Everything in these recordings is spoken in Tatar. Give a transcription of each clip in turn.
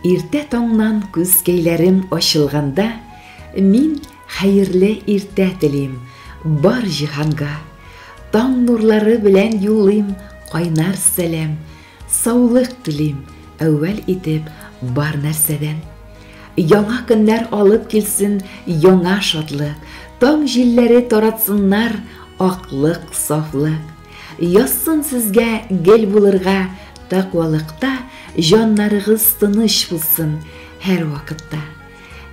Иртә таңнан күзкәйләрем ачылганда, мин хәерле иртә телим бар җиһанга. Таң нурлары белән юллыйм кайнар сәлам, саулык телим әүвәл итеп бар нәрсәдән. Яңа көннәр алып килсен яңа шатлык, таң җилләре таратсыннар аклык, сафлык. Язсын сезгә гел булырга таквалыкта, җаннарыгыз тыныч булсын һәр вакытта.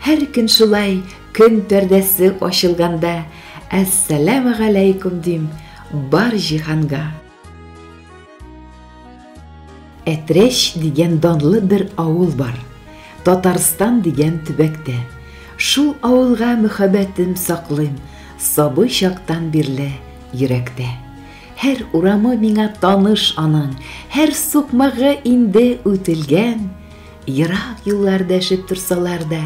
Һәр көн шулай көн пәрдәсе ачылганда, әссәләмәгаләйкүм дим бар җиһанга. Әтрәч дигән данлы бер авыл бар, Татарстан дигән төбәктә. Шул авылга мөхәббәтем саклыйм Сабый чактан бирле йөрәктә. Һәр урамы миңа таныш аның, Һәр сукмагы инде үтелгән. Ерак юллар дәшеп торсалар да,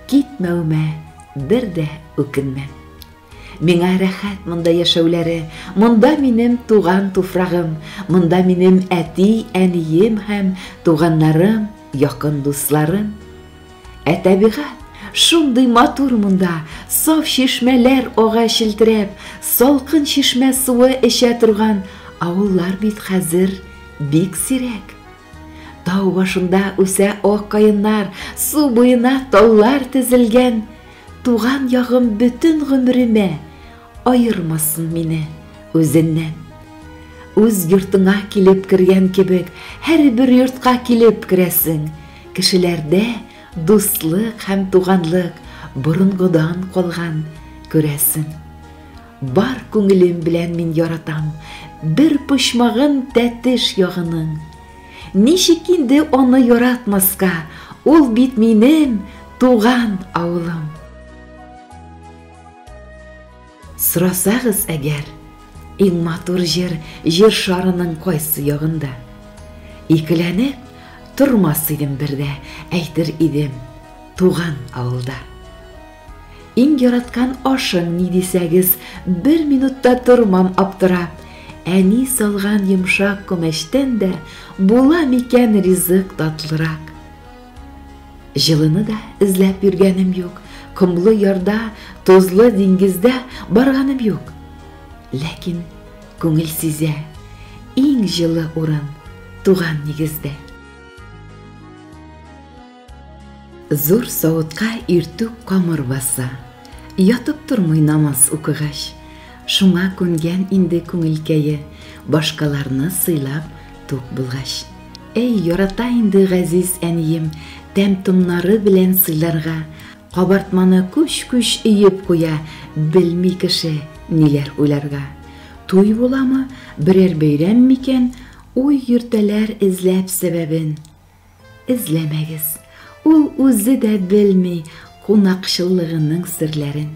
Китмәвемә бер дә үкенмәм. Миңа рәхәт монда яшәүләре, монда минем туган туфрагым, монда минем әти, әнием һәм туганнарым, якын дусларым. Ә табигать шундый матур монда, саф чишмәләр ага челтерәп, салкын чишмә суы эчә торган авыллар бит хәзер бик сирәк. Тау башында үсә ак каеннар, су буена таллар тезелгән, Туган ягым бөтен гомеремә Аермасын мине үзеннән. Үз йортыңа килеп кергән кебек, Һәрбер йортка килеп керәсең. Кешеләрдә дуслык һәм туганлык Борынгыдан калган, күрәсең. Бар күңелем белән мин яратам Бер почмагын тәтеш ягының. Ничек инде аны яратмаска, ул бит минем туган авылым. Сорасагыз әгәр, иң матур җыр җир шарының кайсы ягында? Икеләнеп тормас идем бердә, әйтер идем, туган авылда. Иң яраткан ашың ни дисәгез, бер минутта тормам аптыра. Әни салган йомшак күмәчтән дә була микән ризык татлырак. Җылыны да эзләп йөргәнем юк, комлы ярда, тозлы диңгездә барганым юк. Ләкин күңел сизә, иң җылы урын туган нигездә. Зур савытка иртүк камыр баса, Ятып тормый намаз укыгач. Шуңа күнгән инде күңелкәе, Башкаларны сыйлап тук булгач. Әй, ярата инде газиз әнием, Тәм-томнары белән сыйларга. Кабартманы күч-күч өеп куя, Белми кеше ниләр уйларга. Туй буламы, берәр бәйрәм микән, Уй йөртәләр эзләп сәбәбен. Эзләмәгез, ул үзе дә белми кунакчыллыгының серләрен.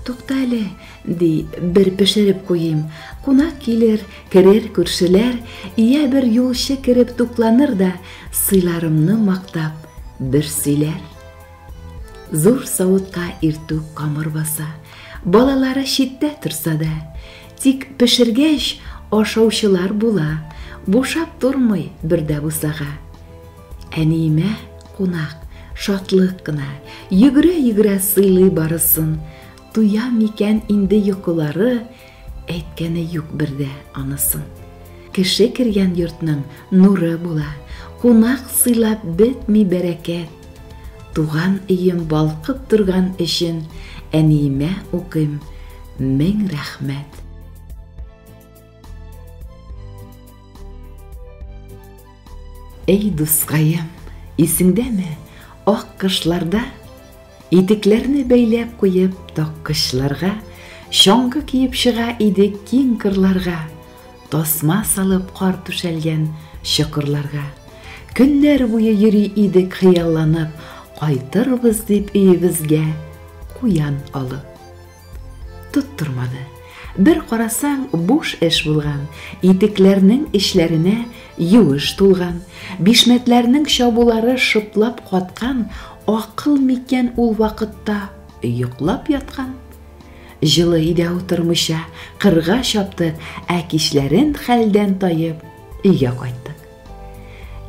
Тукта әле, ди, бер пешереп куйыйм. Кунак килер, керер күршеләр, ия бер юлчы кереп тукланыр да, сыйларымны мактап, бер сөйләр. Зур савытка иртүк камыр баса, балалары читтә торса да, Тик пешергәч, ашаучылар була, бушап тормый бер дә бусага. Әниемә кунак, шатлык кына, йөгерә-йөгерә сыйлый барысын. Туя микән инде йокылары, әйткәне юк бер дә анысын. Кеше кергән йортның нуры була, кунак сыйлап бетми бәрәкәт. Туган өем балкып торган өчен әниемә укыйм, мең рәхмәт. Эй дускаем, исеңдәме, ак кышларда итекләрне бәйләп куеп таккычларга, чаңгы киеп чыга идек киң кырларга. Тасма салып кар түшәлгән чокырларга. Көннәр буе йөри идек хыялланып, Кайтырбыз дип өебезгә куян алып. Тоттырмады. Бер карасаң, буш эш булган, Итекләрнең эчләренә юеш тулган, Бишмәтләрнең чабулары шыплап каткан, Акыл микән ул вакытта йоклап яткан? Җылы өйдә утырмыйча, кырга чапты, ә кичләрен хәлдән таеп, өйгә кайттык.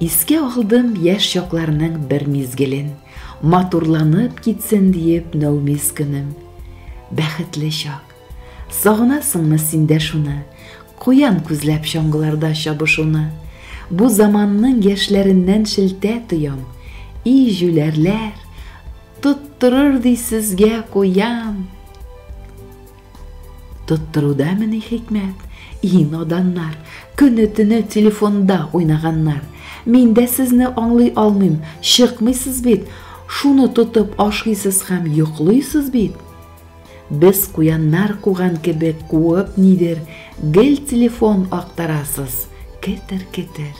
Искә алдым яшь чакларның бер мизгелен, матурланып китсен диеп нәүмиз көнем. Бәхетле чак. Сагынасыңмы син дә шуны, куян күзләп чаңгыларда чабышуны? Бу заманның яшьләреннән шелтә тоям. И җүләрләр! Тоттырыр ди сезгә куян. Тоттыруда мени хикмәт? И наданнар, көне-төне телефонда уйнаганнар. Мин дә сезне аңлый алмыйм, чыкмыйсыз бит. Шуны тотып ашыйсыз һәм йоклыйсыз бит. Без куяннар куган кебек куып нидер, гел телефон актарасыз. Кетер-кетер.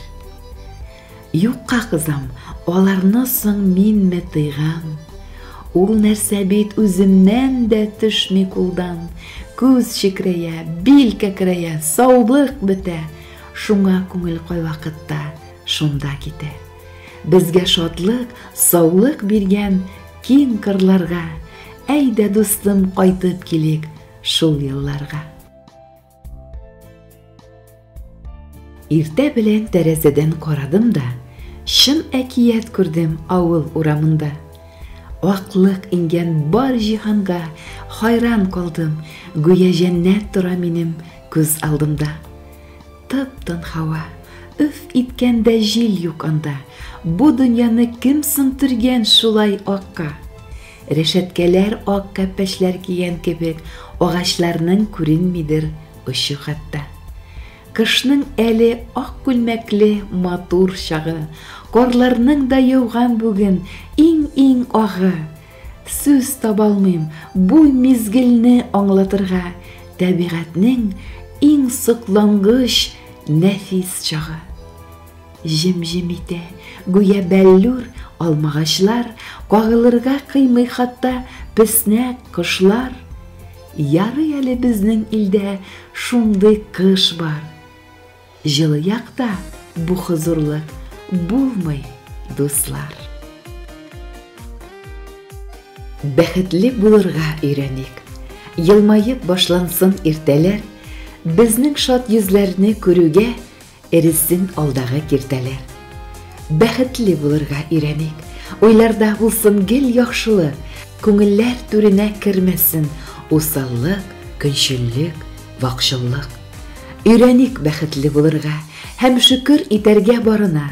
Юкка кызам, аларны соң минме тыйган? Ул нәрсә бит үземнән дә төшми кулдан. Күз чекрәя, бил кәкрәя, саулык бетә. Шуңа күңел кайвакытта шунда китә. Безгә шатлык, саулык биргән киң кырларга. Әйдә, дустым, кайтып килик шул елларга. Иртә белән тәрәзәдән карадым да, чын әкият күрдем авыл урамында. Аклык иңгән бар җиһанга хайран калдым, гүя җәннәт тора минем күз алдымда. Тып-тын һава, үф иткәндә җил юк анда, бу дөньяны кем сынтырган шулай акка? Рәшәткәләр ак кәппәчләр кигән кебек, агачларның күренмидер очы хәтта. Кышның әле ак күлмәкле матур чагы, карларның да яуган бүген иң-иң агы. Сүз табалмыйм бу мизгелне аңлатырга, тәбигатьнең иң соклангыч, нәфис чагы. Җем-җем итә, гүя бәллүр алмагачлар, Кагылырга кыймый хатта песнәк кошлар. Ярый әле безнең илдә шундый кыш бар. Җылы якта бу хозурлык булмый, дуслар. Бәхетле булырга өйрәник. Елмаеп башлансын иртәләр, Безнең шат йөзләрне күрүгә, Эрезсен алдагы киртәләр. Бәхетле булырга өйрәник. Уйларда булсын гел яхшылы, Күңелләр түренә кермәсен Усаллык, көнчеллек, вакчыллык. Өйрәник бәхетле булырга Һәм шөкер итәргә барына.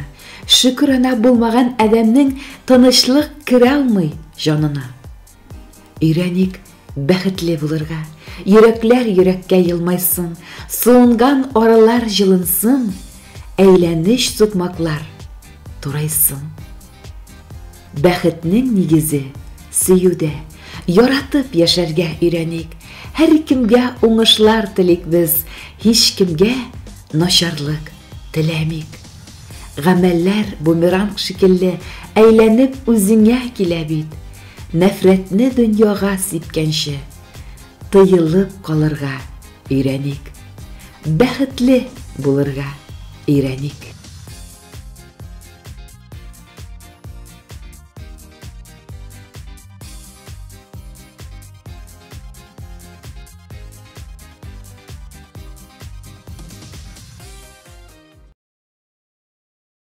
Шөкерана булмаган адәмнең Тынычлык кералмый җанына. Өйрәник бәхетле булырга, Йөрәкләр йөрәккә елмайсын, Суынган аралар җылынсын, Әйләнеч сукмаклар турайсын. Бәхетнең нигезе, сөюдә, Яратып яшәргә өйрәник, Һәркемгә уңышлар телик без, Һичкемгә начарлык теләмик. Гамәлләр бумеранг шикелле, Әйләнеп үзеңә килә бит. нәфрәтне дөньяга сипкәнче, тыелып калырга өйрәник, бәхетле булырга өйрәник.